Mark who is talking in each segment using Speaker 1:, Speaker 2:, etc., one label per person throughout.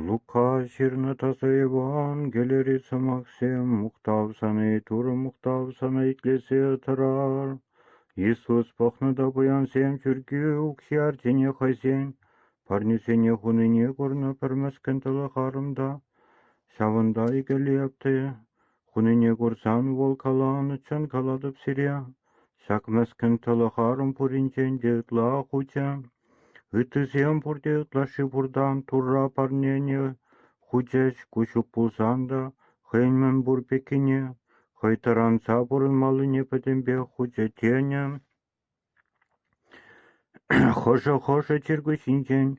Speaker 1: Лука ҫырнӑ таса Евангелири сӑмахсем мухтав сӑнӗ Турӑ мухтав сӑнӗ итлесе тӑрар. Иисус пӑхнӑ та пуянсем чӳрке укҫи артине хӑйсен парнесене хунине курнӑ пӗр мӗскӗн тӑлӑх арӑм та, ҫавӑнта икӗ лепте Хунине курсан вӑл каланӑччен калатӑп сире, ҫак мӗскӗн тӑлӑх арӑм пуринчен те ытла хучӗ. Ыттисем пурте ытлашши пуртан Турра парнене хучӗҫ ку ҫук пулсан та хӑйӗн мӗн пур пеккине, хӑй тӑранса пурӑнмаллине пӗтӗмпех хучӗ тенӗ. Хӑшӗ-хӑшӗ чиркӳсенчен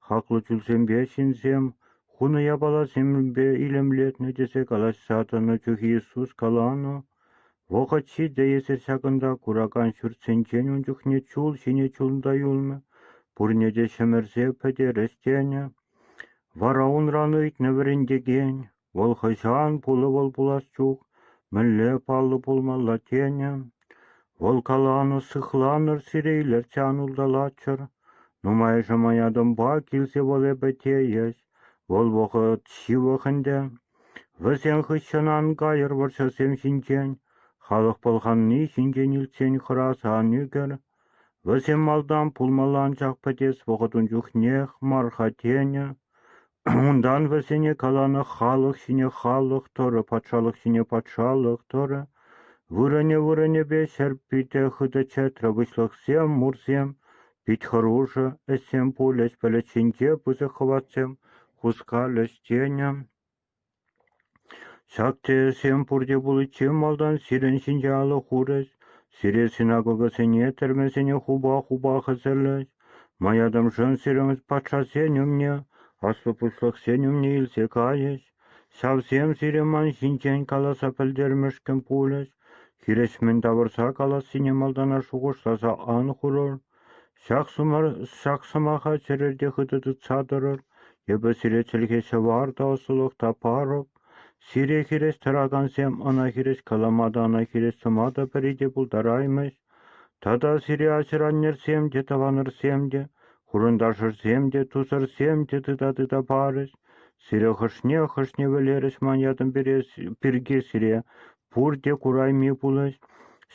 Speaker 1: хаклӑ чулсемпе ҫынсем хунӑ япаласемпе илемлетнӗ тесе калаҫса тӑнӑ чухи Иисус каланӑ, вӑхӑт ҫитӗ, эсир ҫакӑнта куракан ҫуртсенчен ун чухне чул ҫине чунта юлмӗ, пурне те ҫӗмӗрсе пӗтерес тенӗ, вара унран ыйтнӑ вӗрентекен: Вӑл хӑҫан пулӑвӑл пулас чух мӗнле паллӑ пулмалла тенӗ. Вӑл каланӑ «сыхланӑр сире илӗрчче ан улталаччӑр, нумайӑшӗ маятӑмпа килсе вӑл эпӗ тейӗҫ, вӑл вӑхӑт ҫывӑх ӗнтӗ. Вӗсен хыҫҫӑн ан кайӑр вӑрҫӑсем ҫинчен, халӑх пӑлханни ҫинчен илтсен хӑраса ан ӳкӗр. Вӗсем малтан пулмалла, анчах пӗтес вӑхӑт ун чухнех мар-ха тенӗ. Унтан вӗсене каланӑ халӑх ҫине халӑх тӑрӑ, патшалӑх ҫине патшалӑх тӑрӑ. Вырӑнӗ-вырӑнӗпе ҫӗр питӗ хытӑ чӗтрӗ, выҫлӑхсем, мурсем пит хӑрушӑ. Ӗҫсем пулӗҫ, пӗлӗт ҫинче пысӑк хӑватсем хускалӗҫ тенӗ. Ҫак тӗлӗшсем пурте пуличчен малтан сирӗн ҫинче алӑ хурӗҫ, сире синагогӑсене, тӗрмесене хупа-хупа хӗсӗрлӗҫ, маятӑмшӑн сирӗн патшасен умне, аслӑ пуҫлӑхсен умне илсе кайӗҫ. Ҫавсем сире ман ҫинчен каласа пӗлтермешкӗн пулӗҫ, хирӗҫ мӗн тавӑрса калассине малтанах шухӑшласа ан хурӑр. Ҫак сӑмаха чӗрерте хытӑ тытса тӑрӑр, эпӗ сире чӗлхе ҫӑвар та ӑслӑлӑх та парӑп, сире хирӗҫ тӑракансем ӑна хирӗҫ калама та ӑна хирӗҫ сӑма та пӗри те пултараймӗҫ, тата сире ачӑр-аннӗрсем те, тӑванӑрсем те, хурӑнташӑрсем те, тусӑрсем те тыта-тыта парӗҫ, сире хӑшне-хӑшне вӗлерӗҫ ман ятӑм пирки сире Пурте курайми пулать,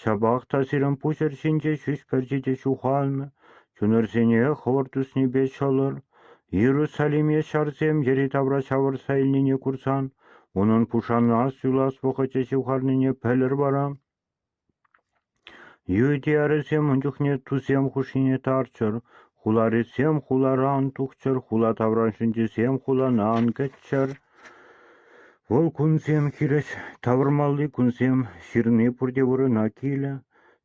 Speaker 1: ҫапах та сирӗн пуҫӑр ҫинче ҫӳҫ пӗрчи ҫухалнӑ, чунӑрсене хӑвӑрт туснипе ҫӑлӑр. Иерусалиме ҫарсем йӗри-тавра ҫавӑрса илнине курсан, унӑн пушана суйлас вӑхӑчӗ ҫывхарнине пӗлӗр вара. Ертӳ-ярӗсем ун чухне тусем хушшине тарччӑр, хуларисем хулара ан тухчӑр, хула таврашӗнчисем хулана ан кӗччӗр. Вӑл кунсем хирӗҫ тавӑрмалли кунсем, ҫырни пурте вырӑна килӗ.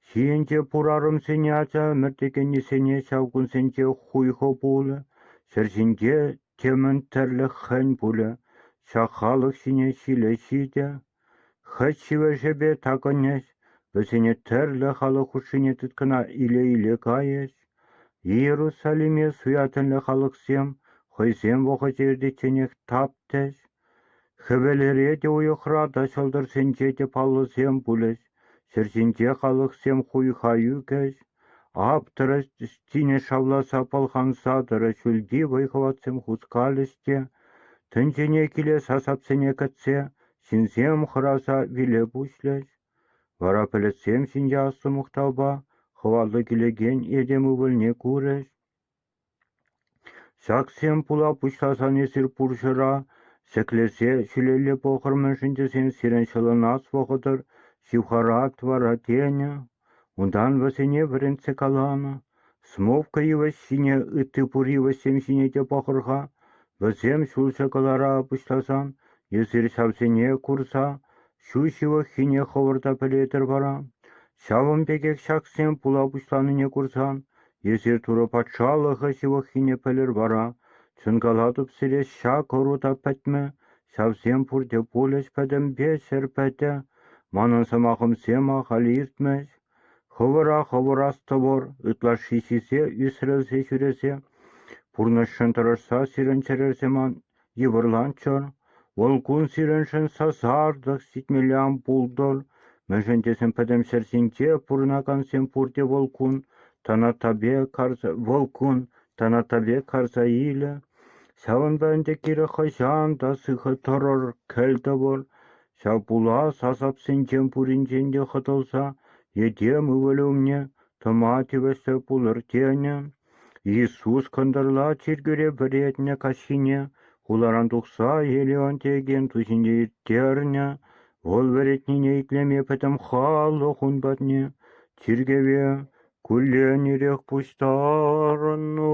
Speaker 1: Ҫийӗнче пур арӑмсене ача ӗмӗртекеннисене ҫав кунсенче хуйхӑ пулӗ, ҫӗр ҫинче темӗн тӗрлӗ хӗн пулӗ, ҫак халӑх ҫине ҫиле ҫитӗ. Хӑть ҫӗвӗҫӗпе такӑнӗҫ, вӗсене тӗрлӗ халӑх хушшине тыткӑна иле-иле кайӗҫ. Иерусалиме суятӑнлӑ халӑхсем хӑйсем вӑхӑчӗ иртичченех таптӗҫ. Хӗвелре те уйӑхра та ҫӑлтӑрсенче те паллӑсем пулӗҫ. Ҫӗр ҫинче халӑхсем хуйха ӳкӗҫ, аптӑрӑҫ, тинӗс шавласа пӑлханса тӑрӑ ҫӳлти вӑй-хӑватсем хускалӗҫ те, тӗнчене киле сасапсене кӗтсе, ҫынсем хӑраса виле пуҫлӗҫ. Вара пӗлӗтсем ҫинче ассӑ мухтавпа хӑваллӑ килекен этем ывӑлне курӗҫ. Ҫаксем пула пуҫласан эсир пурҫӑра ҫӗклесе ҫӳлелле пӑхӑр мӗншӗн тесен сирӗн ҫӑлӑнас вӑхӑтӑр ҫывхарать вара, тенӗ, унтан вӗсене вӗрентсе каланӑ. Смовка йывӑҫ ҫине, ытти пур йывӑҫсем ҫине те пӑхӑр-ха, вӗсем ҫулҫӑ кӑлара пуҫласан эсир ҫавсене курса Ҫу ҫывӑххине хӑвӑрта пӗлетӗр вара, ҫавӑн пекех ҫаксем пула пуҫланине курсан, эсир Турӑ Патшалӑхӗ ҫывӑххине пӗлӗр вара, чӑнкалатӑп сире, ҫак ӑру та пӗтмӗ, ҫавсем пурте пулӗҫ пӗтӗмпе ҫӗр пӗтӗ, манӑн сӑмахӑмсем ахаль иртмӗҫ, хӑвӑра хӑвӑр астӑвӑр, ытлашши сисе ӳсрӗлсе ҫӳресе, пурнӑҫшӑн тӑрӑшса сирӗн чӗрӗрсе ман Йывӑрланччӑр, вӑл кун сирӗншӗн сасартӑк сикмелле ан пултӑр, мӗншӗн тесен пӗтӗм ҫӗр ҫинче пурӑнакансем пурте вӑл кун Танатапе карса илӗ. Ҫавӑнпа ӗнтӗ кирек хӑҫан та сыхӑ тӑрӑр, кӗлтӑвӑр. Ҫав пулас асапсенчен пуринчен те хӑтӑлса, етем ывӑлӗ умне тӑма тивӗҫлӗ пулӑр тенӗ. Иисус кӑнтӑрла чиркӳре вӗретнӗ каҫхине хуларан тухса Леонтиекен ту ҫинче ирттернӗ, вӑл вӗретнине итлеме пӗтӗм халӑх ун патне, чиркӗве, кулленерех пуҫтарӑннӑ.